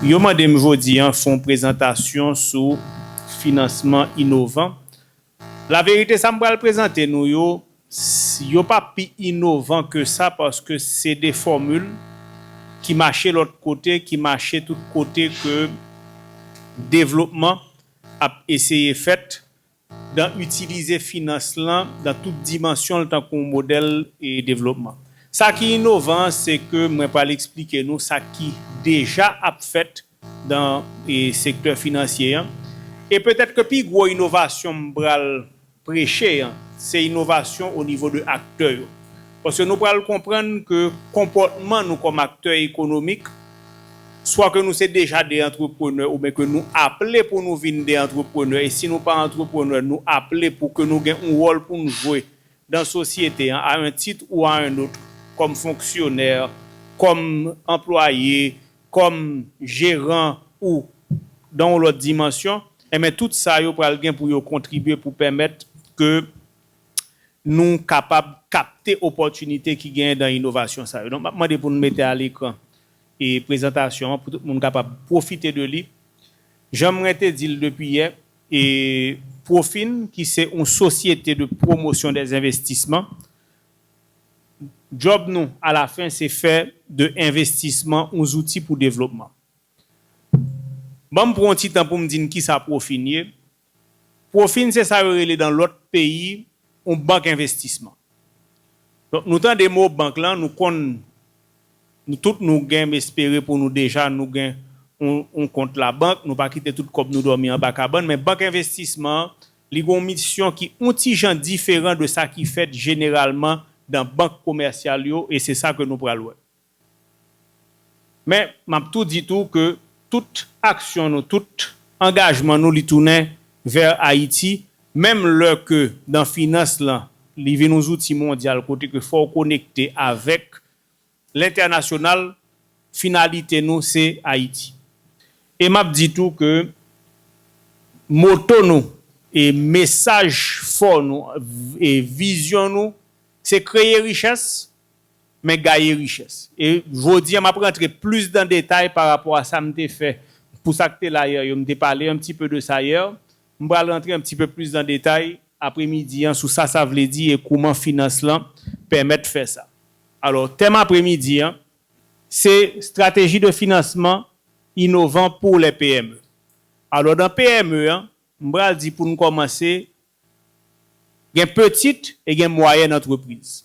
Yo mande m jodi an fon prezantasyon sou finansman inovan. Laverite sa m pral prezante nou yo, yo pa pi inovan ke sa paske se de fòmil ki mache lòt kote, ki mache tout kote ke devlopman. ap eseye fèt dan itilize finans lan dan tout dimansyon l tankou yon modèl devlopman. Sa ki inovan an se ke mwen pral eksplike nou sa ki deja ap fèt dan sektè finansye an e petèt ke pi gwo inovasyon m pral preche an se inovasyon onivo de aktè yo paske nou pral konprann ke konpòtman nou kòm aktè ekonomik swa ke nou se deja de antreprenè ouben ke nou aple pou nou vin de antreprenè e si nou pa antreprenè nou aple pou ke nou gen yon wòl pou nou jwe dan sosyete an a un titre ou a un autre kòm fonksyonè kòm anplwaye kòm jeran ou dan yon lòt dimansyon, enben tout sa yo pral gen pou yo kontribye pou pèmèt ke nou kapab kapte opòtinite ki genyen dan inovasyon sa yo. Donk m ap mande pou nou mete a lekran e prezantasyon an pou tout moun kapab pwofite de li. Jan mwen te di l depi yè, e Profin ki se yon sosyete de pwomosyon dèzenvestisman, Djòb nou, alafen, se fè de envestisman yon zouti pou devlopman. Ban m pran yon ti tan pou m di n kisa pwofi n ye. Pwofi n se sa yo rele nan lòt peyi yon bank envestisman. Donk nou tande mo bank lan, nou konn, nou tout nou gen, m espere pou nou deja nou gen yon kont labank, nou pa kite tout kòb nou dòmi anba kabann, men bank envestisman, Li gen yon misyon ki yon ti jan diferan de sa ki fèt jeneralman dan bank komèsyal yo e se sa ke nou pral wè. Men, m ap tou di tou ke tout aksyon nou, tout angajman nou li tounen vè Ayiti, menm lè ke dan finans lan li vin yon zouti mondyal kote ke fò w konekte avèk L'International, finalite nou se Ayiti. E map di tou ke moto nou e mesaj fò nou e vizyon nou se kreye richès men gaye richès. E jodi a map rantre plis dan detay pa rapò a sa m te fè pou sa k te la yè yo, m te pale un petit peu de ça hier, M pral rantre un petit peu plus dans detay apre midi an sou sa sa vle di e kouman finans lan pèmèt fè sa. Alors, tèm apre midi an se Stratégie de financement innovant pour les PME. Alors, dans PME an, m pral di pou n kòmanse gen petite e gen moyenne entreprise.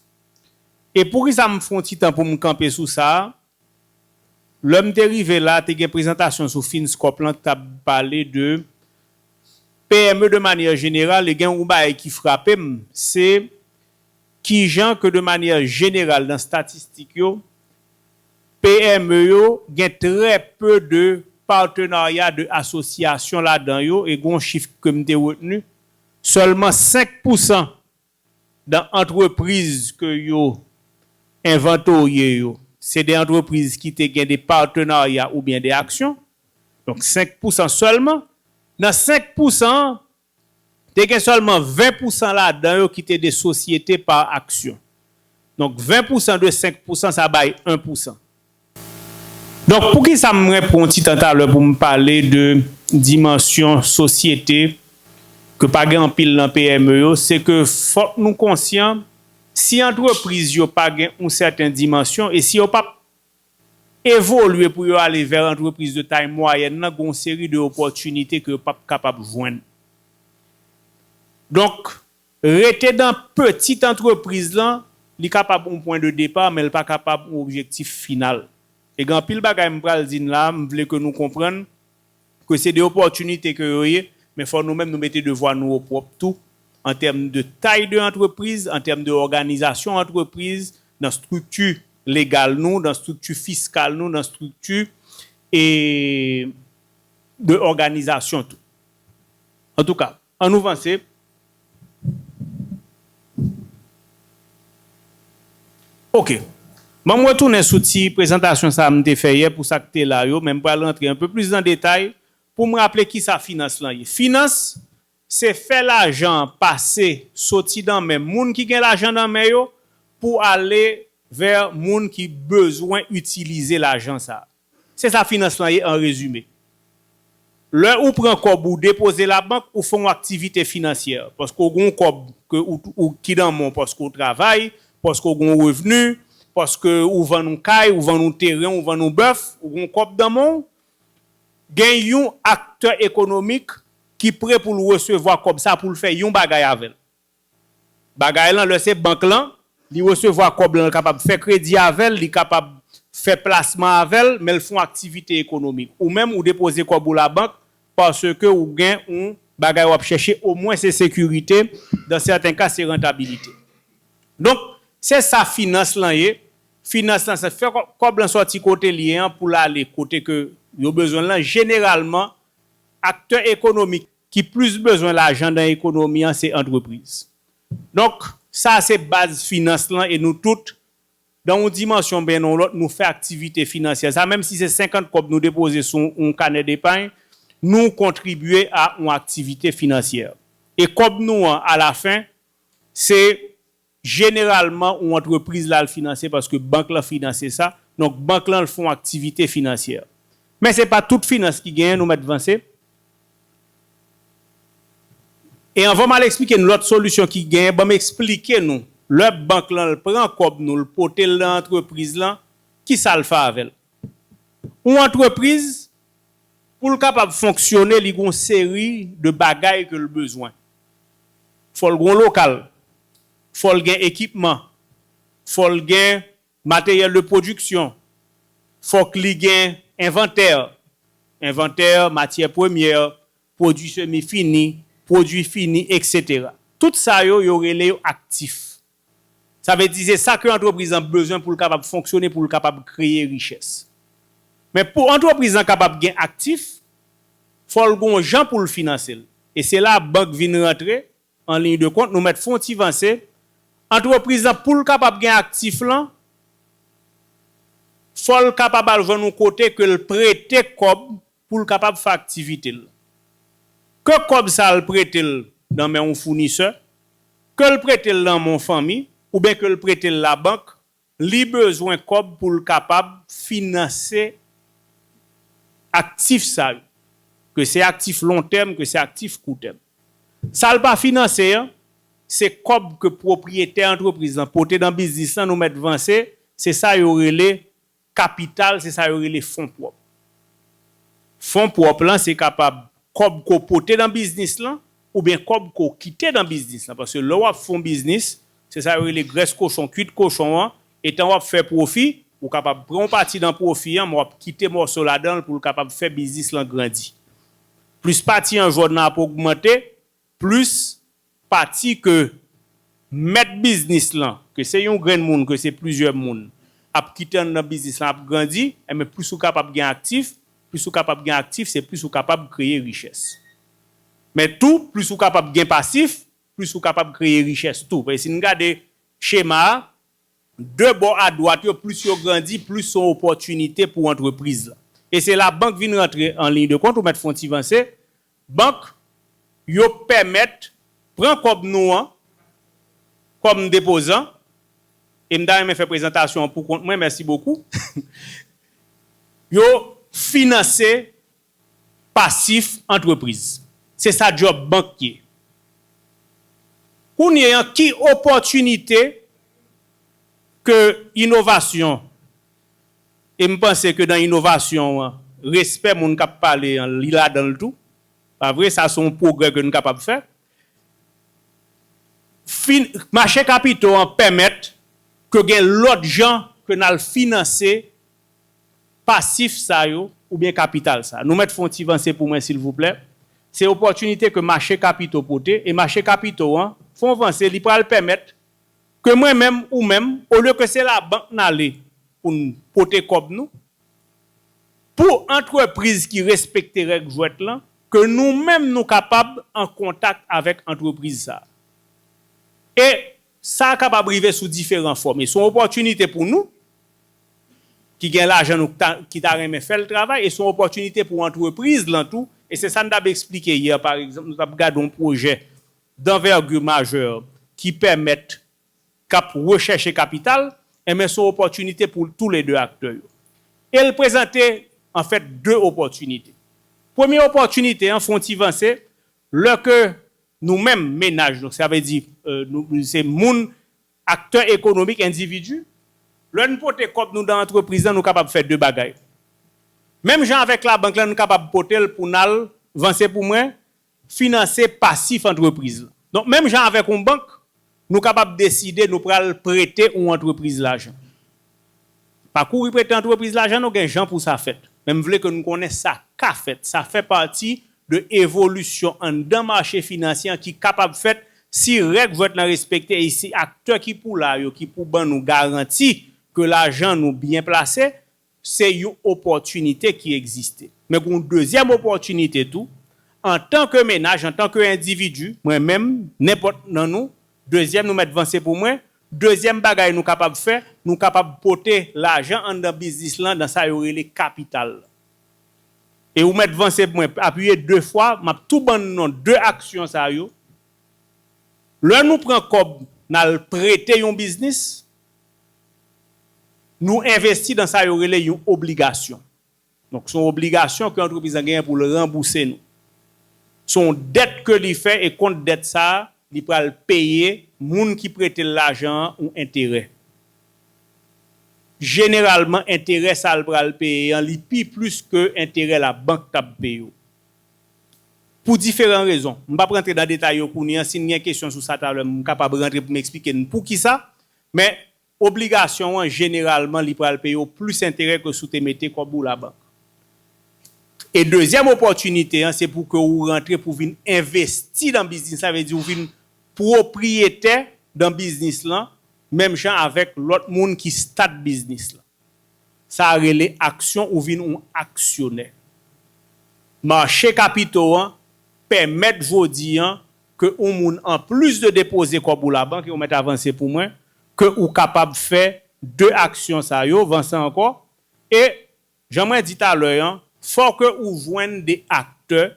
E poukisa m fon ti tan pou m kanpe sou sa a? Lè m te rive la, te gen prezantasyon sou Fins Corp lan k t ap pale de PME de manyè jeneral e gen yon bagay ki frape m, se kijan ke de manyè jeneral nan statistik yo, PME yo gen trè pe de patenarya, de asosyasyon ladan yo e gen yon chif ke m te retni, sèlman 5 pousan Dan antrepriz ke yo envantorye yo, se de antrepriz ki te gen de patenarya oubyen de aksyon, donk 5 pousan sèlman. Nan 5 pousan an, te gen sèlman 20 pousan ladan yo ki te de sosyete par aksyon. Donk 20 pousan de 5 pousan sa bay 1 pousan. Donk poukisa mwen pran ti tan talè pou m pale de dimansyon sosyete ke pa gen anpil nan PME yo, se ke fòk nou konsyan si antrepriz yo pa gen yon sèten dimansyon e si yo pap evolye pou yo ale vè antrepriz de tay mwayèn lan gen yon seri de opòtinite ke yo pap kapab jwenn. Donk. Rete dan petit antrepriz lan, li kapab yon pwen de depar men l pa kapab yon objektif final. E gen anpil bagay m pral di n la a m vle ke nou konprann ke se de opòtinite ke yo ye men fò nou menm nou mete devwa nou o pwòp tou an tèm de tay de antrepriz, an tèm de òganizasyon antrepriz, nan strikti legal nou, nan strikti fiskal nou, nan strikti e de òganizasyon tou. Antouka, An nou vanse. Ok. Banm retounen sou ti prezantasyon sa a m te fè yè pou sa k te la yo, men m pral rantre anpe plis nan detay pou m raple kisa finans lan ye. Finans, se fè lajan an pase soti nan men moun ki gen lajan nan men yo pou ale vè moun ki bezwen itilize lajan sa a. Se sa finans lan ye an rezime. Lè ou pran kòb ou depoze labank ou fè yon aktivite finansyè paske ou gen yon kòb ke ou ki nan men w paske ou travay, paske ou gen yon revni, paske ou vann yon kay, ou vann yon teren, ou vann yon bèf, ou gen yon kòb nan men w. Gen yon aktè ekonomik ki pre pou l resevwa kòb sa pou l fè yon bagay avè l. Bagay lan lè se bank lan li resevwa kòb lan l kapab fè kredi avè l li kapab fè plasman avè l men l fon aktivite ekonomik ou menm ou depoze kòb ou labank paske ou gen on bagay wap chèche omwen se sekirite dan sèten ka se rantabilite donk se sa finans lan ye finans lan se fè kòb lan sòti kote l ye an pou l ale kote ke yo bezwen l lan jeneralman aktè ekonomik. ki plis bezwen lajan nan ekonomi an se antrepriz. Donk, sa a se baz finans lan e nou tout, nan yon dimansyon ben nan yon lòt, nou fè aktivite finansyè sa a. Menm si se 50 kòb nou depoze sou yon kanè depay, nou kontribye a yon aktivite finansyè. E kòb nou an, alafen, se Jeneralman ou antrepriz la l finanse paske bank lan finanse sa, donk bank lan l fon aktivite finansyè. Men se pa tout finans ki genyen nou mèt vanse. E anvan m al eksplike n lòt solisyon ki genyen banm eksplike nou lè bank lan l pran kòb nou l pote l nan antrepriz lan kisa l fè avè l. Ou antrepriz pou l kapab fonksyone li gon seri de bagay ke l bezwen. fò l gon lokal, fò l gen ekipman, fò l gen materyèl de pwodiksyon, fòk li gen envantè, envantè matyè premyè, pwodui semi fini, pwodui fini, eksetera. Tout sa yo, yo rele yo aktif. Sa vle di se sa ke antrepriz lan bezwen pou l kapab fonksyone, pou l kapab kreye richès. Men pou antrepriz lan kapab gen aktif, fò l gon jan pou l finanse l. E se la bank vin rantre an liy de kont, nou mèt fon ti vanse, antrepriz lan pou l kapab gen aktif lan, fò l kapab al jwenn yon kote ke l prete kòb pou l kapab fè aktivite l, ke kòb sa a l prete l nan men yon founisè, ke l prete l nan men yon fanmi ouben ke l prete l labank, li bezwen kòb pou l kapab finanse aktif sa yo, ke se aktif lontèm, ke se aktif koutèm. Sa l pa finanse an, se kòb ke pwopriyetè antrepriz lan pote nan biznis lan nou mèt vanse, se sa yo rele Kapital se sa yo rele fon pwòp. Fon pwòp lan se kapab kòb ke w pote nan biznis lan oubyen kòb ke w kite nan biznis lan paske lè w ap fè yon biznis se sa yo rele grès kochon, kwit kochon an, etan w ap fè pwofi, ou kapab pran yon pati nan pwofi an men w ap kite mòso ladan l pou l kapab fè biznis lan grandi. Plis pati an jòn nan ap ogmante, Plis pati ke mèt biznis lan, ke se yon grenn moun, ke se plizyè moun, ap kite anndan biznis lan ap grandi, enben plis ou kapab gen aktif, plis ou kapab gen aktif, se plis ou kapab kreye richès. Men tou, plis ou kapab gen pasif, plis ou kapab kreye richès tou. Paske si n gade chema a, De bò a dwat yo, plis yo grandi, plis son opòtinite pou antrepriz la. E se la bank vin rantre an liy de kont, ou mèt fon ti vanse, bank yo pèmèt pran kòb nou an kòm depozan, e m ta renmen fè prezantasyon an pou kont mwen, mèsi bokou, yo finanse Pasif antrepriz. Se sa djòb bank ye. Kounye an ki opòtinite ke inovasyon, e m panse ke nan inovasyon an, respè moun k ap pale an li ladan l tou, pa vre, sa se yon pwogrè ke n kapab fè. Fin, mache kapito an pèmèt ke gen lòt jan ke n al finanse pasif sa yo oubyen kapital sa. Nou mèt fè yon ti vanse pou mwen silvouplè. Se opòtinite ke mache kapito pote e mache kapito an fè yon vanse li pral pèmèt ke mwen menm, ou menm, olye ke se labank n ale pou n pote kòb nou, pou antrepriz ki respekte règ jwèt lan, ke nou menm nou kapab an kontak avèk antrepriz sa. E Sa a kapab rive sou diferan fòm e se yon opòtinite pou nou ki gen lajan nou ki ta renmen fè l travay e se yon opòtinite pou antrepriz lan tou. E se sa n t ap esplike yè pa egzanp, nou t ap gade yon pwojè danvègi majè ki pèmèt, k ap rechèche kapital, enben se yon opòtinite pou tou le de aktè yo. E l prezante anfèt de opòtinite. Premye opòtinite an fè yon ti vanse, Lè ke nou menm, menaj, donk sa vle di nou se moun, aktè ekonomik, endividi, lè nou pote kòb nou dan antrepriz lan nou kapab fè 2 bagay. Menm jan avèk labank lan nou kapab pote l pou n al, vanse pou mwen, finanse pasif antrepriz lan. Donk menm jan avèk yon bank, Nou kapab deside nou pral prete yon antrepriz lajan. Pa kouri prete antrepriz lajan non gen jan pou sa fèt. Men m vle ke nou konnen sa ka fèt. Sa fè pati de evolisyon anndan mache finansye an ki kapab fèt si règ vèt lan respekte e si aktè ki pou la yo ki pou ban nou garanti ke lajan nou byen plase Se yon opòtinite ki egziste. Men gen yon dezyèm opòtinite tou, antan ke menaj, antan ke endividi, mwen menm, nenpòt nan nou, dezyèm nou mèt vanse pou mwen, dezyèm bagay nou kapab fè, nou kapab pote lajan anndan biznis lan nan sa yo rele kapital lan. E ou mèt vanse pou mwen apiye de fwa, m ap tou ban non de aksyon sa yo, lè nou pran kòb n al prete yon biznis, Nou envesti dan sa yo rele yon obligasyon. Donk, se yon obligasyon ke antrepriz lan genyen pou l ranbouse nou. Se yon dèt ke li fè e kont dèt sa a, li pral peye moun ki prete l lajan an yon enterè. Jeneralman, enterè sa l pral peye an, li pi plis ke enterè labank t ap peye w. Pou diferan rezon. M p ap rantre dan detay yo kounye an. Si n gen kesyon sou sa talè, m kapab rantre pou m eksplike n poukisa. Men, obligasyon an jeneralman li pral peye w plis enterè ke si w te mete kòb ou labank. E dezyèm opòtinite an se pou ke ou rantre pou vin envesti nan biznis la, sa vle di ou vin pwopriyetè nan biznis lan menm jan avèk lòt moun ki start biznis lan. Sa a rele aksyon, ou vin yon aksyonè. Mache kapito an pèmèt jodi an ke ou moun an plis de depoze kòb ou la bank e ou mèt avanse pou mwen ke ou kapab fè 2 aksyon sa yo vanse ankò e jan mwen di talè an fò ke ou jwenn de aktè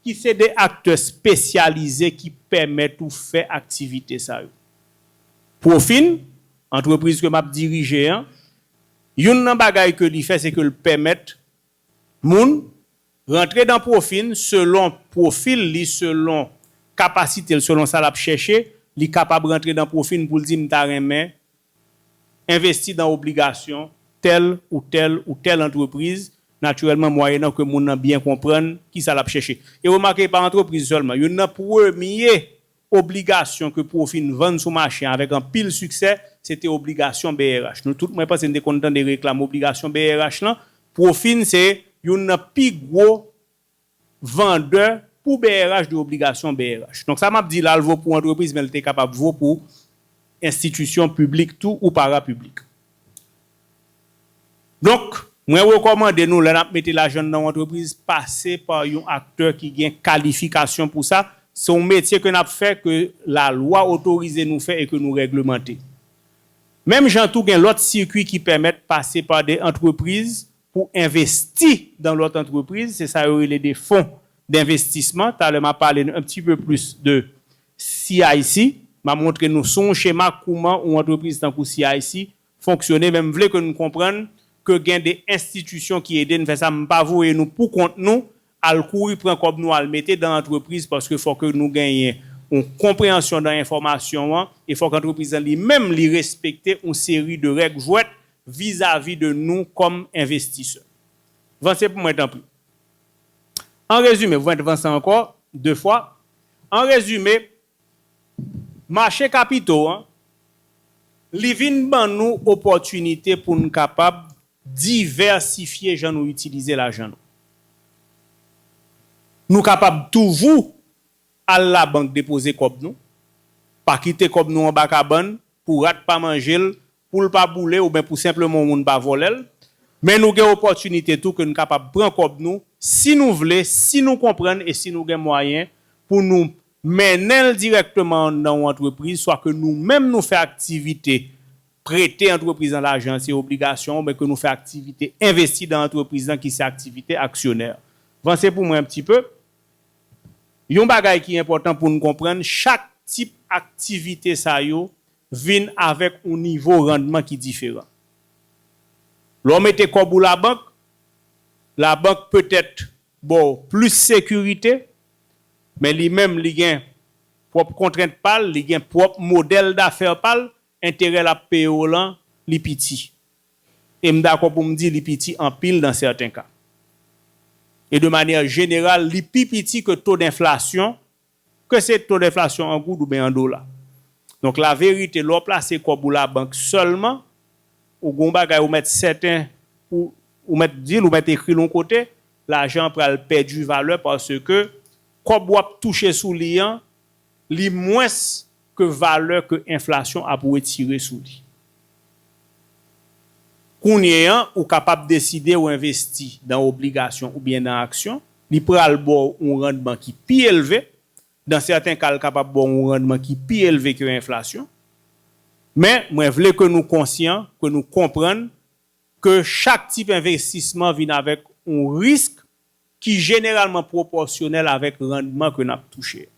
ki se de aktè spesyalize ki pèmèt ou fè aktivite sa yo profin antrepriz ke map dirije an youn nan bagay ke li fè se ke l pèmèt moun Rantre dan pwofin selon pwofil li selon kapasite l selon sa lap chèche li kapab rantre dan pwofin pou l di m ta renmen envesti dan obligasyon tèl ou tèl ou tèl antrepriz natirèlman mwayenan ke moun nan byen konprann kisa lap chèche e remake e pa antrepriz sèlman youn nan premye Obligasyon ke Profi n vann sou mache an avèk anpil siksè, se te obligasyon brh. Nou tout mwen panse n te konn tande reklam obligasyon brh lan. Profi n se youn nan pi gwo vandè pou brh de obligasyon brh. Donk sa m ap di la l vo pou antrepriz men l te kapab vo pou enstitisyon piblik tou ou parapiblik. Donk, mwen rekòmande nou lè n ap mete lajan n nan yon antrepriz, pase pa yon aktè ki gen kalifikasyon pou sa. Se yon metye ke n ap fè, ke lalwa otorize nou fè e ke nou règlemante. Menm jan tou gen lòt sikui ki pèmèt pase pa de antrepriz pou envesti dan lòt antrepriz, se sa yo rele de fon denvestisman. Talè m a pale nou un petit peu plus de CIC. M a montre nou sou yon chema kouman yon antrepriz tankou CIC fonksyone men m vle ke nou konprann ke gen de enstitisyon ki ede n fè sa m pa voye nou pou kont nou al kouri pran kòb nou al mete dan antrepriz paske fò ke nou genyen yon konpreyansyon dan enfòmasyon an e fòk antrepriz lan li menm li respekte yon seri de règ jwèt vizavi de nou kòm envestisè vanse pou mwen tanpri an rezime vwent vanse ankò de fwa an rezime Mache kapito an, li vin ban nou opòtinite pou n kapab divèsifye jan nou itilize lajan nou. Nou kapab toujou al labank depoze kòb nou, pa kite kòb nou anba kabann pou rat pa manje l pou l pa boule ouben pou senpleman yon moun pa vòlè l, men nou gen opòtinite tou ke n kapab pran kòb nou si nou vle, si nou konprann e si nou gen mwayen pou nou mennen l dirèkteman nan yon antrepriz swa ke nou menm nou fè aktivite prete antrepriz lan lajan se obligasyon ouben ke nou fè aktivite envesti dan antrepriz lan ki se aktivite aksyonè. Vanse pou mwen yon pti pe. Yon bagay ki enpòtan pou n konprann chak tip aktivite sa yo vin avèk yon nivo randman ki diferan. Lè w mete kòb ou labank, labank petèt ba w plis sekirite, men li menm li gen pwòp kontrent pa l, li gen pwòp modèl dafè pa l, enterè l ap peye w lan li piti. E m dakò pou m di li piti anpil nan sèten ka. E de manyè jeneral li pi piti ke to denflasyon Ke se to denflasyon an goud ouben an dola. Donk la verite lè w plase kòb ou labank sèlman, ou gen yon bagay ou mèt sèten pou ou mèt di l, ou mèt ekri l yon kote, lajan an pral pèdi valè paske kòb w ap touche sou li an, li mwens ke valè ke enflasyon ap wetire sou li. Kounye an, ou kapab deside ou envesti dan obligasyon oubyen dan aksyon, li pral ba w yon randman ki pi elve, dan sèten ka l kapab ba w yon randman ki pi elve ke enflasyon. Men, mwen vle ke nou konsyan, ke nou konprann ke chak tip envestisman vin avèk yon risk ki jeneralman pwopòsyonèl avèk randman ke n ap touche a.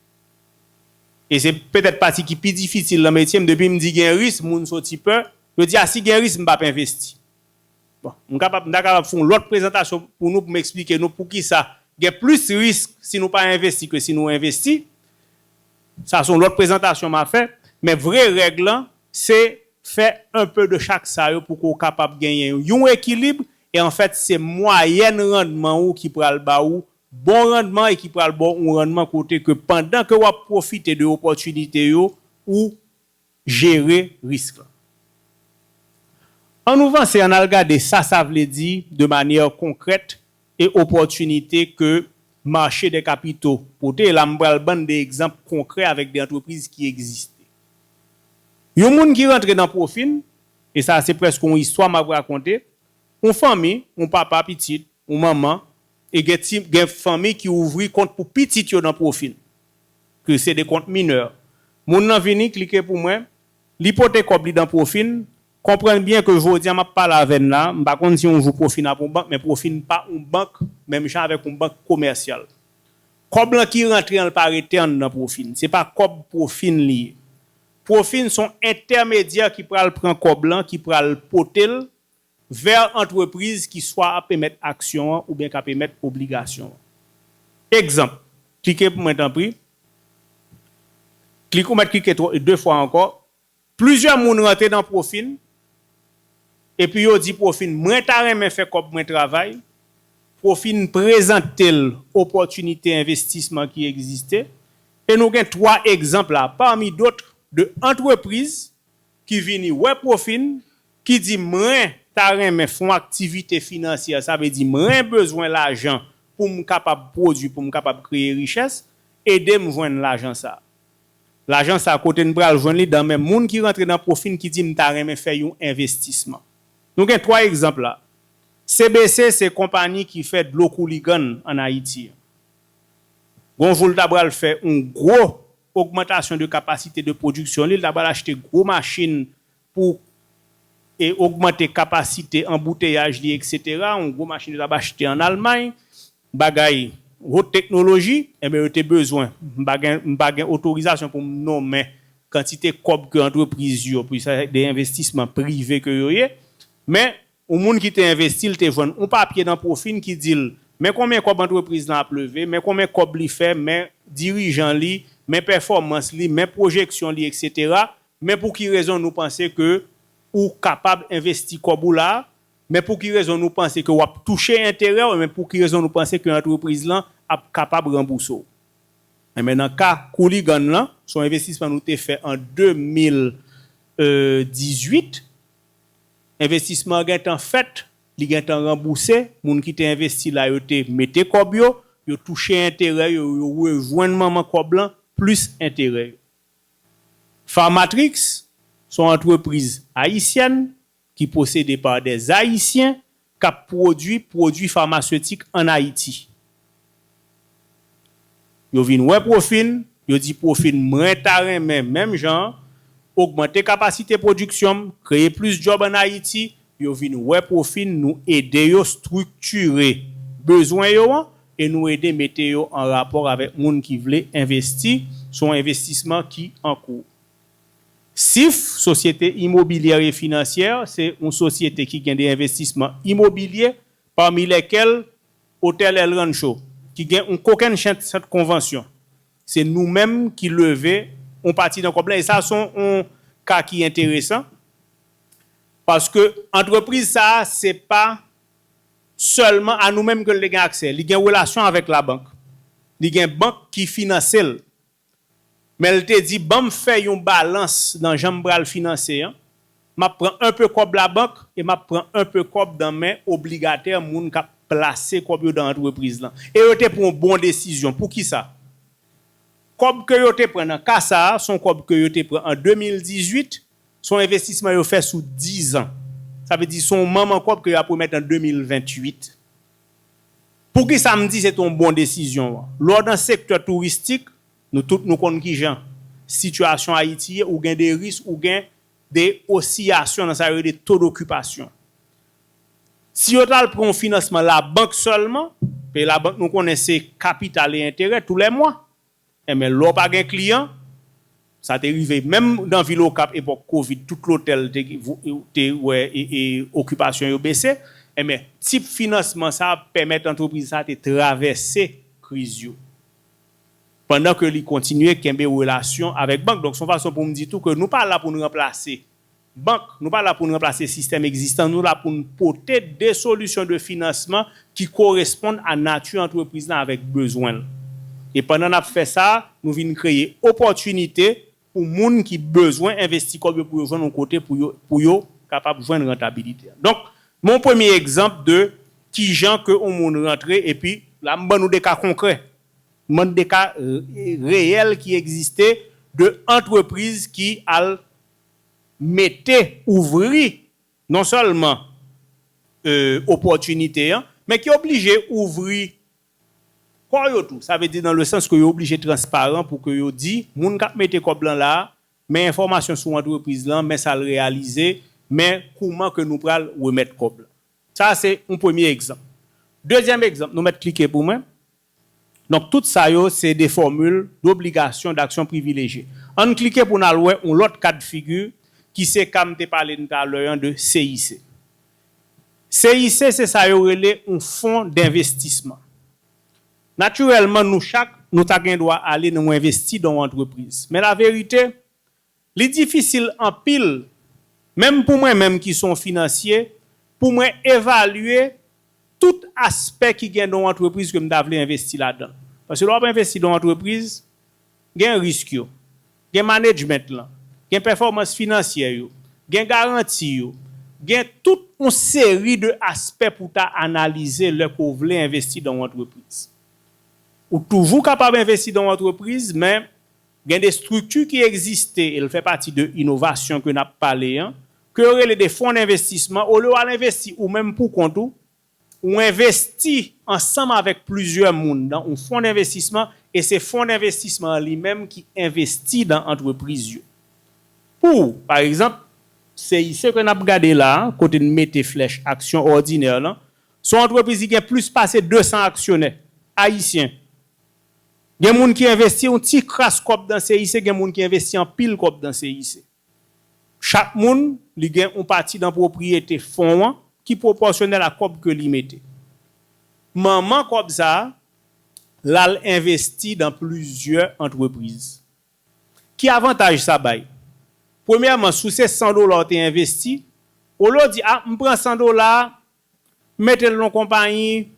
E se petèt pati ki pi difisil nan metye m, depi m di gen risk, moun soti pè, yo di a si gen risk m p ap envesti. Bon, m kapab, m ta kapab fè yon lòt prezantasyon pou nou pou m eksplike nou poukisa gen plis risk si nou pa envesti ke si nou envesti, sa se yon lòt prezantasyon m a fè, men vre règ lan se fè un peu de chak sa yo pou ke w kapab genyen yon ekilib E anfèt se mwayèn randman ou ki pral ba ou bon randman e ki pral ba w yon randman kote ke pandan ke w ap pwofite de opòtinite yo ou jere risk lan. An nou vanse ann al gade sa sa vle di de manyè konkrèt e opòtinite ke mache dè kapito pote e la m pral ban n de egzanp konkrè avèk de antrepriz ki egziste. Yon moun ki rantre nan pwofi n E sa a se prèske yon istwa m ap rakonte, yon fanmi, yon papa, pitit, yon manman, e gen ti, gen fanmi ki ouvri kont pou pitit yo nan pwofil, ke se de kont minè. Moun nan vini, klike pou mwen, li pote kòb li dan pwofin, konprann byen ke jodi a m ap pale avè n la, m pa konn si yon jou pwofin ap yon bank, men pwofin pa yon bank menm jan avèk yon bank komèsyal. Kòb lan ki rantre an l pa rete an nan pwofin, se pa kòb pwofin li ye. Profin son entèmedyè ki pral pran kòb lan ki pral pote l vè antrepriz ki swa ap emèt aksyon an oubyen k ap emèt obligasyon an. Egzanp, Klike pou mwen tanpri Klik Ou mèt klike twò de fwa ankò Plizyè moun rantre nan Profin epi yo di Profin mwen ta renmen fè kòb mwen travay Profin prezante l opòtinite envestisman ki egziste E nou gen 3 egzanp la parmi d'autres de antrepriz ki vini wè pwofi n, ki di mren ta renmen fon aktivite finansyè sa vle di mren bezwen lajan pou m kapab pwodwi pou m kapab kreye richès, ede m jwenn lajan sa. Lajan sa kote n pral jwenn li dan men moun ki rantre nan pwofi n ki di m ta renmen fè yon envestisman. Nou gen 3 egzanp la. CBC se konpani ki fè dlo kouligann an Ayiti. Gonvo l ta pral fè yon gwo ogmantasyon de kapasite de pwodiksyon li, li ta pral achte gwo machin pou e ogmante kapasite anbouteyaj li eksetera, yon gwo machin yo ta p achte an Almay, bagay haute teknoloji, enben yo te bezwen, m pa gen m pa gen otorizasyon pou m nonmen kantite kòb ke antrepriz yo, puisans se de envestisman prive ke yo ye, men Yon moun ki te envesti l te jwenn yon papye nan pwofi n ki di l men konbyen kòb antrepriz lan ap leve, men konbyen kòb li fè, men dirijan li, men pèfòmans li, men pwojeksyon li eksetera, men pou ki rezon nou panse ke ou kapab envesti kòb ou la a, men pou ki rezon nou panse ke w ap touche enterè w, men pou ki rezon nou panse ke antrepriz lan ap kapab ranbouse w. Enben nan ka Cooligan lan, se yon envestisman nou te fè an 2018, Envestisman an gentan fèt, li gentan ranbouse, moun ki te envesti la yo te mete kòb yo, yo touche enterè yo, yo rejwenn manman kòb lan plis enterè yo. Pharmatrix s on antrepriz ayisyèn ki posede pa dè Ayisyen, k ap pwodui pwodui famasetik ann Ayiti. Yo vin wè pwofi n, yo di pwofi n mwen ta renmen menm jan an, ogmante kapasite pwodiksyon m, kreye plis djòb ann Ayiti, yo vin wè pwofi n nou ede yo striktire bezwen yo an e nou ede mete yo an rapò avèk moun ki vle envesti, se yon envestisman ki an kou. SIF, Sosyete Imobilyè e Finansyè, se yon sosyete ki gen de envestisman imobilye, pami lèkèl Otèl El Rancho, ki gen yon kokennchenn sant konvansyon. Se nou menm ki leve yon pati nan kòb lan e sa se yon ka ki enteresan, paske antrepriz sa a se pa sèlman a nou menm ke l te gen aksè, li gen relasyon avèk labank, li gen bank ki finanse l. Men l te di, Ban m fè yon balans nan jan m pral finanse an, m ap pran enpe kòb labank e m ap pran enpe kòb nan men obligatè moun k ap plase kòb yo nan antrepriz lan. E yo te pran bon desizyon. Poukisa? Kòb ke yo te pran nan ka sa a, s on kòb ke yo te pran an 2018, s on envestisman yo fè sou dizan. Sa vle di s on manman kòb ke yo ap remèt an 2028. Poukisa m di se te yon bon desizyon an? Lè w nan sektè touristik, nou tout nou konn kijan sitiyasyon Ayiti ye, ou gen de risk, ou gen de osiyasyon nan sa yo rele to dokipasyon. Si yo t al pran yon finansman labank sèlman, paye labank nou konnen se kapital e enterè tou lè mwa. Enben lè w pa gen kliyan, sa te rive menm nan vil Okap epòk covid tout lotèl te wè okipasyon yo bese, enben tip finansman sa pèmèt antrepriz sa te travèse kriz yo pandan ke li kontinye kenbe relasyon avèk bank. Donk se yon fason pou m di tou ke nou pa la pou n ranplase. Bank, nou pa la pou n ranplase sistèm egzistan, nou la pou n pote de solisyon de finansman ki koresponn a nati antrepriz lan avèk bezwen l. E pandan n ap fè sa, nou vin kreye opòtinite pou moun ki bezwen envesti kòb yo pou yo jwenn yon kote pou yo pou yo kapab jwenn rantabilite. Donk, men yon premye egzanp de ki jan ke yon moun rantre epi la m ban nou de ka konkrè, m ban nou de ka reyèl ki egziste de antrepriz ki al mete, ouvri non sèlman opòtinite an, men ki oblije ouvri kò yo tou. Sa vle di nan le sans ke yo oblije transparan pou ke yo di moun k ap mete kòb lan la a, men enfòmasyon sou antrepriz lan, men sa l reyalize, men kouman ke nou pral remèt kòb lan. Sa a se yon premye egzanp. Dezyèm egzanp, nou mèt klike pou mwen. Donk tout sa yo se de fòmil dobligasyon daksyon privilejye. An n klike pou n al wè yon lòt ka de figi ki se ka m te pale n talè an de CIC. CIC se sa yo rele yon fon denvestisman. Natirèlman nou chak nou ta gen dwa ale nou envesti dan yon antrepriz. Men laverite, Li difisil anpil, menm pou mwen menm ki son finansye, pou mwen evalye tout aspè ki gen nan yon antrepriz ke m ta vle envesti ladan l. Paske lè w ap envesti nan yon antrepriz, gen risk yo, gen manedjment lan, gen pèfòmans finansyè yo, gen garanti yo, gen tout yon seri de aspè pou w ta analize lè ke w vle envesti nan yon antrepriz. Ou toujou kapab envesti nan yon antrepriz, men Gen de strikti ki egziste e l fè pati de inovasyon ke n ap pale an, ke yo rele de fond'envestisman, olye w al envesti ou menm pou kont ou, ou envesti ansanm avèk plizyè moun dan on fond'envestisman e se fond'envestisman an li menm ki envesti dan antrepriz yo pou ou. Pa egzanp, CIC ke n ap gade la a, kote n mete flèch aksyon òdinè lan, s on antrepriz ki gen plis pase 200 aksyonè, ayisyen. Gen moun ki envesti yon ti kras kòb dan CIC, gen moun ki envesti anpil kòb dan CIC. Chak moun, li gen yon pati dan pwopriyete fon an ki pwopòsyonèl a kòb ke li mete. Manman kòb sa a, l al envesti dan plizyè antrepriz. Ki avantaj sa bay? Premyèman, si w se 100 dola w te envesti, olye w di, a, m pran 100 dola a, Mete l nan konpayi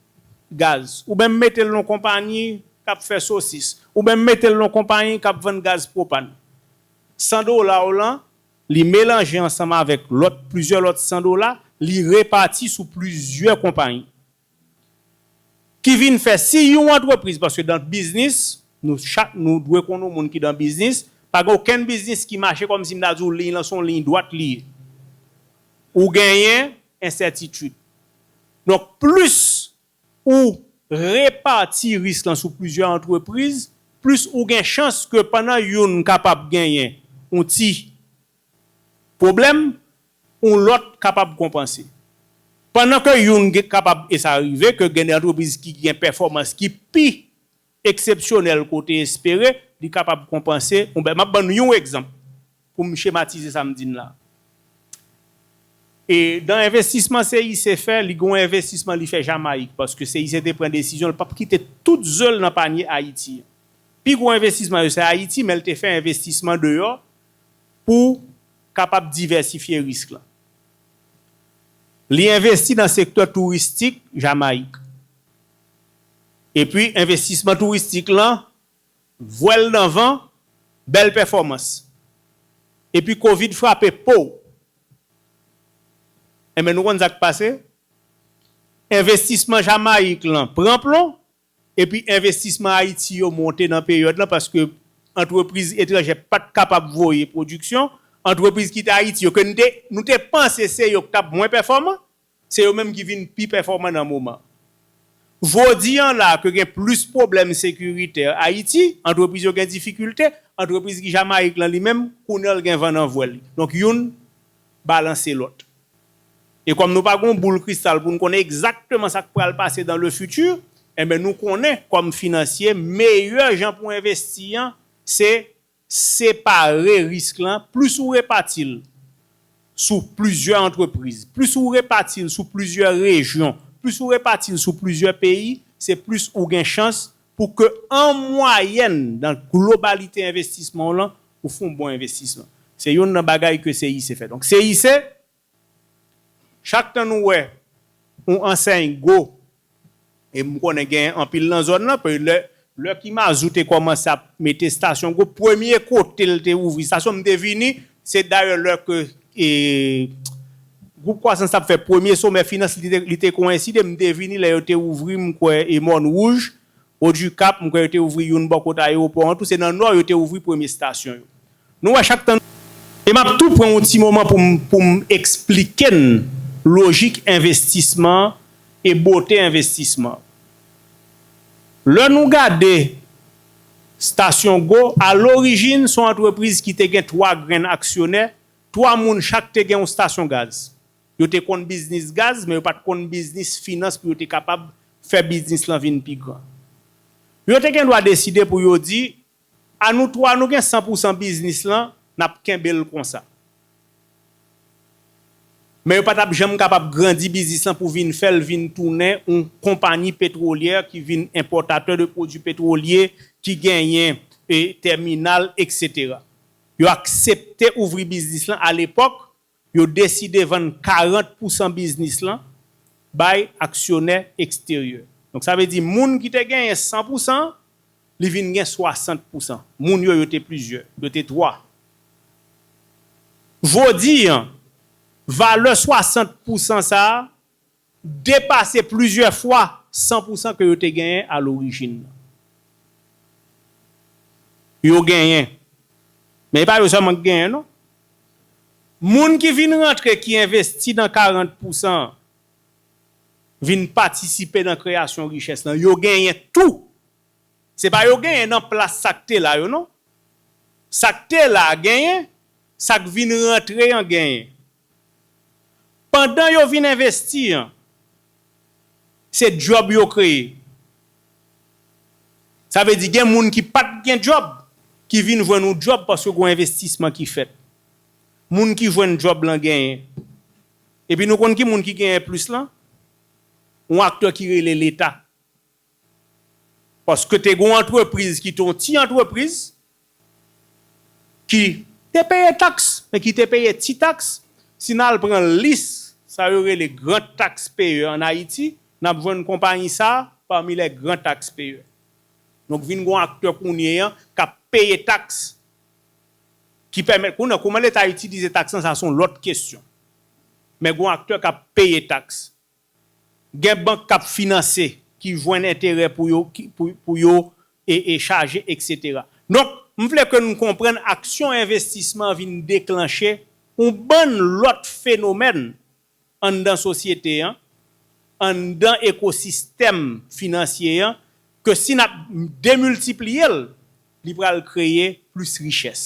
gaz. Oubyen mete l nan konpayi k ap fè sosis. Oubyen mete l nan konpayi k ap vann gaz pwopàn. San dola w lan, li melanje ansanm avèk lòt plizyè lòt san dola, li repati sou plizyè konpayi. Ki vin fè si yon antrepriz, paske dan biznis, nou chak nou dwe konn yon moun ki dan biznis, pa gen okenn biznis ki mache kòmsi m ta di w liy lan se yon liy dwat li ye. Ou genyen ensètitid. Donk plis ou repati risk lan sou plizyè antrepriz, plis ou gen chans ke pandan youn kapab genyen yon ti pwoblèm, yon lòt kapab konpanse. Pandan ke youn kapab, e sa rive, ke gen de antrepriz ki gen pèfòmans ki pi eksepsyonèl ke w te espere, li kapab konpanse yon bèl. M ap ban nou yon egzanp pou m chematize sa m di n la. E dan envestisman CIC fè, li gen yon envestisman li fè Jamayik, paske CIC te pran desizyon l pap kite tout ze l nan panye Ayiti an. Pi gwo envestisman yo se Ayiti, men l te fè envestisman deyò pou kapab divèsifye risk lan. Li envesti nan sektè touristik Jamayik. Epi envestisman touristik lan vwèl nan van bèl pèfòmans epi covid frape pow enben nou konn sak pase envestisman jamayik lan pran plon epi envestisman ayiti yo monte nan peryòd lan paske antrepriz etranjè pat kapab voye pwodiksyon antrepriz kite ayiti yo ke nou te panse se yo ki tap mwen pèfòman Se yo menm ki vin pi pèfòman nan moman. Vo di an la ke gen plis pwoblèm sekiritè Ayiti, antrepriz yo gen difikilte, antrepriz ki Jamayik lan li menm, kounye an l gen van nan vwèl li. Donk youn balanse lòt. E kòm nou pa gen yon boul kristal pou n konnen egzakteman sa k pral pase dans le futur, enben nou konnen kòm finansye meyè jan pou envesti an se Separe risk lan, plis ou repati l sou plizyè antrepriz, plis ou repati l sou plizyè rejyon, plis ou repati l sou plizyè peyi, se plis ou gen chans pou ke an mwayèn nan globalite envestisman w lan, ou fon bon envestisman. Se youn nan bagay ke CIC fè. Donk CIC. Chak tan nou wè yon ansèy gwo, e m konnen genyen anpil nan zòn lan, paske lè lè Kimazou te kòmanse ap mete estasyon gwo, premye kote l te ouvri estasyon m te vini, se dayè lè ke e gwoup kwasans t ap fè premye somè finans li te li te koenside m te vini lè yo te ouvri m kwè e Mònwouj, Odikap, m kwè yo te ouvri youn bò kote ayewopò an tou, se nan Nò yo te ouvri premye estasyon yo. Nou wè chak tan. E map tou pran yon ti moman pou m pou m eksplike n lojik envestisman e bote envestisman. Lè nou gade Stasyon Go, a lorijin son antrepriz ki te gen 3 grenn aksyonè, 3 moun chak te gen yon stasyon gaz. Yo te konn biznis gaz men yo pat konn biznis finans pou yo te kapab fè biznis lan vin pi gran. Yo te gendwa deside pou yo di, A nou 3 nou gen 100 pousan biznis lan nap kenbel konsa. Men yo patap janm kapab grandi biznis lan pou vin fèl vin tounen yon konpani petwolyè ki vin enpòtatè de pwodwi petwolye ki genyen tèminal etc. Yo aksepte ouvri biznis lan a lepòk Yo deside vann 40 pousan biznis lan bay aksyonè eksteryè. Donk sa vle di moun ki te genyen 100 pousan an, li vin gen 60 pousan. Moun yo, yo te plizyè. Yo te 3. Jodi an, valè 60 pousan sa a depase plizyè fwa 100 pousan ke yo te genyen a lorijin nan. Yo genyen. Men e pa yo sèlman ki genyen non. Moun ki vin rantre ki envesti nan 40 pousan an, vin patisipe nan kreyasyon richès lan, yo genyen tou. Se pa yo genyen nan plas sa k te la yo non. Sa k te la a genyen, sa k vin rantre an genyen. Pandan yo vin envesti an, se djòb yo kreye. Sa vle di gen moun ki pa t gen djòb, ki vin jwenn yon djòb paske gen yon envestisman ki fèt. Moun ki jwenn djòb lan genyen. Epi nou konn ki moun ki genyen plis lan? Yon aktè ki rele Leta. Paske te gen yon antrepriz ki te yon ti antrepriz ki te peye taks men ki te peye ti taks. Si n al pran lis sa yo rele gran taks peye an Ayiti, n ap jwenn konpayi sa a pami lè gran taks peye. Donk vin gen yon aktè kounye an k ap peye taks ki pèmèt kounye an kouman leta itilize taks lan sa se yon lòt kesyon. Men gen yon aktè k ap peye taks. Gen bank kap finanse ki jwenn enterè pou yo pou yo chaje eksetera. Donk m vle ke nou konprann aksyon envestisman vin deklanche on bann lòt fenomèn anndan sosyete an, anndan ekosistèm finansye an ke si nap demiltipliye l Li pral kreye plis richès.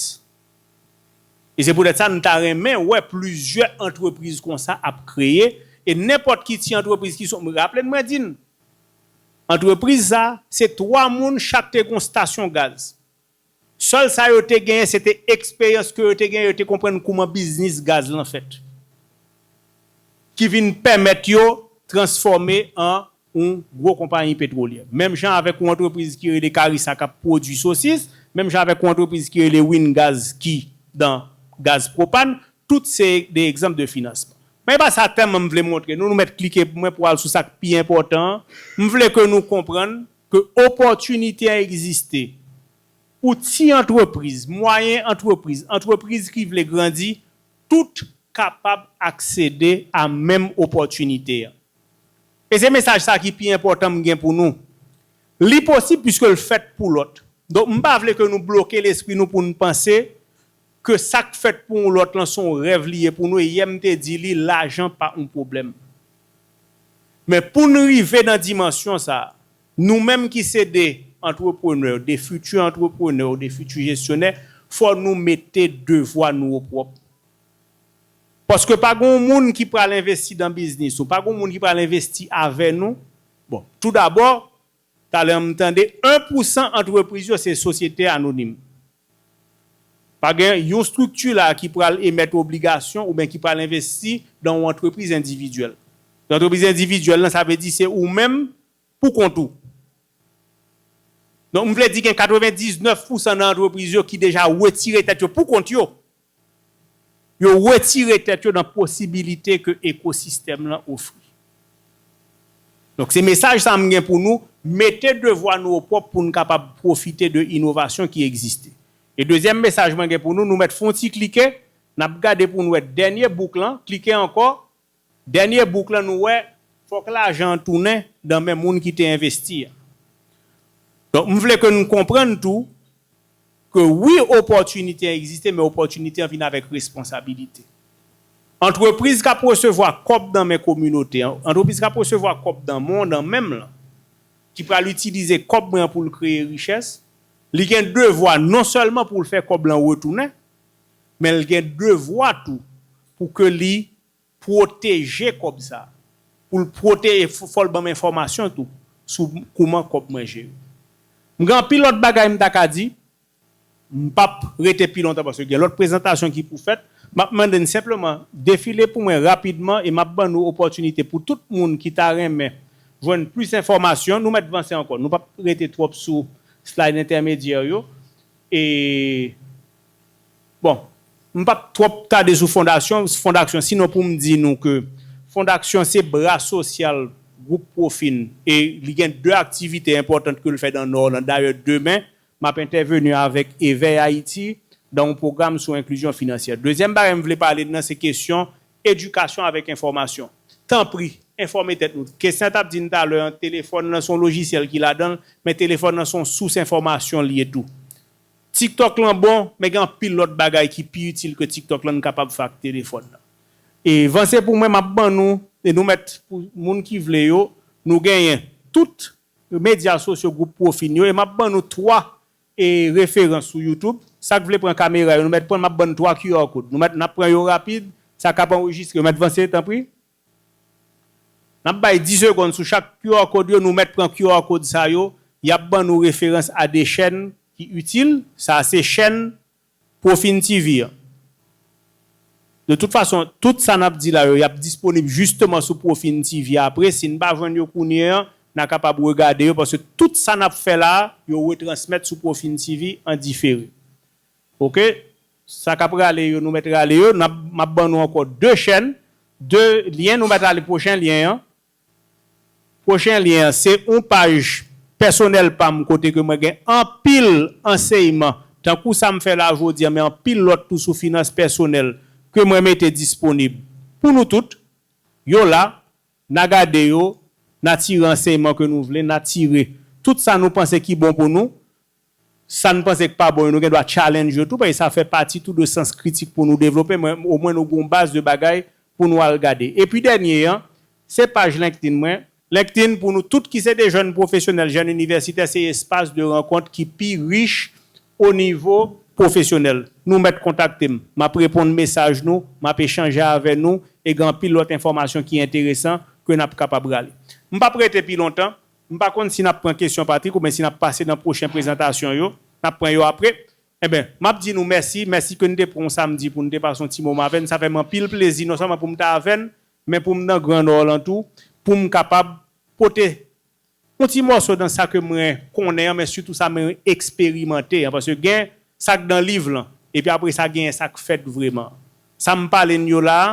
E se poutèt sa nou ta renmen wè plizyè antrepriz konsa ap kreye e nenpòt ki ti antrepriz ki sou, raple n mwen di n, antrepriz sa se 3 moun chak te gen yon stasyon gaz. Sèl sa yo te genyen se te eksperyans ke yo te genyen, yo te konprann kouman biznis gaz lan fèt. Ki vin pèmèt yo transfòme an yon gwo konpayi petwolyè, menm jan avèk yon antrepriz ki rele Carissa kap pwodui sosis, menm jan avèk yon antrepriz ki rele Wingaz ki dan gaz pwopàn, tout se de egzanp de finansman. Men e pa sa tèm an m vle montre nou, nou mèt klike pou mwen pou al sou sa k pi enpòtan an, m vle ke nou konprann ke opòtinite a egziste pou ti antrepriz, mwayen antrepriz, antrepriz ki vle grandi, tout kapab aksede a menm opòtinite an. E se mesaj sa ki pi enpòtan m gen pou nou. Li posib piske l fèt pou lòt. Donk m pa vle ke nou bloke lespri nou pou n panse ke sa k fèt pou yon lòt lan se yon rèv li ye pou nou e yè m te di li lajan pa yon pwoblèm. Men pou n rive nan dimansyon sa, nou menm ki se de antreprenè, de fiti antreprenè ou de fiti jesyonè, fò nou mete devwa nou opwòp. Paske pa gon moun ki pral envesti dan biznis ou, pa gon moun ki pral envesti avè nou, bon, tou dabò, talè m tande 1 pou 100 antrepriz yo se sosyete anonim. Pa gen yon strikti la ki pral emèt obligasyon oubyen ki pral envesti dan yon antrepriz endividyèl. Antrepriz endividyèl lan sa vle di se ou menm pou kont ou. Donk m vle di gen 99 pousan nan antrepriz yo ki deja wetire tèt yo pou kont yo. Yo wetire tèt yo nan posibilite ke ekosistèm lan ofri. Donk se mesaj sa m gen pou nou, mete devwa nou o pwòp pou n kapab pwofite de inovasyon ki egziste. E dezyèm mesaj mwen gen pou nou, nou mèt fon ti klike, n ap gade pou n wè dènye bouk lan, klike ankò, Dènye bouk lan nou wè fòk lajan an tounen dan men moun ki te envesti a. Donk m vle ke n konprann tou ke wi opòtinite an egziste men opòtinite an vin avèk responsabilite. Antrepriz k ap resevwa kòb dan men kominote an, antrepriz k ap resevwa kòb dan men w, dan men m lan, ki pral itilize kòb mwen an pou l kreye richès, li gen devwa non sèlman pou l fè kòb lan retounen, men l gen devwa tou pou ke li pwoteje kòb sa pou l pwote e fò l ban m enfòmasyon tou sou kouman kòb mwen jere. M gen anpil lòt bagay m ta ka di, m p ap rete pi lontan paske gen lòt prezantasyon ki pou fèt, m ap mande n senpleman defile pou mwen rapidman e m ap ban nou opòtinite pou tout moun ki ta renmen jwenn plis enfòmasyon, nou mèt vanse ankò, nou p ap rete twòp sou slide entèmedyè yo e. Bon, m p ap twòp tade sou fondaksyon, fondaksyon, sinon pou m di nou ke fondaksyon se bra sosyal gwoup Profin e li gen de aktivite enpòtant ke l fè dan Nò lan. Dayè, demen, m ap entèveni avèk Evèy Ayiti dan yon pwogram sou enklizyon finansyè. Dezyèm bagay m vle pale nan se kesyon edikasyon avèk enfòmasyon. Tanpri, enfòme tèt nou. Christian t ap di n talè an, telefòn lan se yon lojisyèl ki ladan l, men telefòn lan se yon sous enfòmasyon li ye tou. Tiktok lan bon, men gen anpil lòt bagay ki pi itil ke tiktok lan n kapab fè ak telefòn nan. E vanse pou mwen map ban nou e nou mèt pou moun ki vle yo, nou genyen tout medya sosyo gwoup pwofi n yo e map ban nou 3 e referans sou youtube, sak vle pran kamera yo nou mèt pran map ban n 3 QR code nou mèt nap pran yo rapid, sa kap anrejistre yo mèt vanse tanpri. Nap bay 10 segond sou chak QR code yo nou mèt pran QR code sa yo yap ban nou referans a 2 chèn ki itil sa se chèn Profin TV an de tout fason tout sa nap di la yo yap disponib jisteman sou Profin TV apre sin pa jwenn yo kounye an na kapab regade yo paske tout sa nap fè la yo retransmèt sou Profin TV an difere ok. Sa kap rale yo nou met rale yo nap map ban nou anko 2 chèn 2 lyen nou met ale pwochen lyen an pwochen lyen an se yon paj pèsonèl pam kote ke mwen gen anpil anseyman tankou sam fè la jodi an men anpil lòt tou sou finans pèsonèl ke mwen mete disponib pou nou tout yo la na gade yo na tire anseyman ke nou vle na tire tout sa nou panse ki bon pou nou Sa n panse k pa bon yo nou gen dwa challenge yo tou paske sa fè pati tou de sans kritik pou nou devlope men omwen nou gen yon baz de bagay pou nou al gade. Epi dènye an, se paj LinkedIn mwen. LinkedIn pou nou tout ki se de jèn pwofesyonèl, jèn inivèsitè se espas de rankont ki pi rich o nivo pwofesyonèl. Nou mèt kontakte m. M ap reponn mesaj nou, m ap echanje avè nou e gen anpil lòt enfòmasyon ki enteresan ke n ap kapab rale. M p ap rete pi lontan M pa konn si n ap pran kesyon Patrick oubyen si n ap pase nan pwochen prezantasyon yo. N ap pran yo apre. Enben, m ap di nou mèsi. Mèsi ke n te pran yon samdi pou n te pase yon ti moman avè n. Sa fè m anpil plezi non sèlman pou m ta avè n, men pou m nan Gran Nò lan tou, pou m kapab pote yon ti mòso nan sa ke mwen konnen an, men sitou sa mwen eksperimante an. Paske gen sa k dan liv lan, epi apre sa genyen sa k fèt vreman. Sa m pale n yo la a,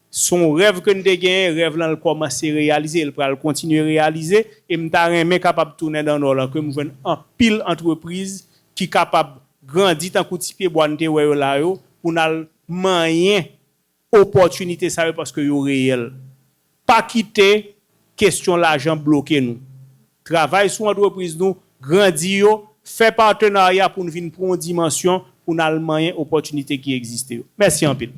Se yon rèv ke n te genyen, rèv lan l kòmanse reyalize, l pral kontinye reyalize, e m ta renmen kapab tounen dan Nò lan, ke m jwenn anpil antrepriz ki kapab grandi tankou ti pye bwa n te wè yo la yo, pou n al manyen opòtinite sa yo paske yo reyèl. Pa kite kesyon lajan bloke nou. Travay sou antrepriz nou, grandi yo, fè patenarya pou n vin pran yon dimansyon pou n al manyen opòtinite ki egziste yo. Mèsi anpil.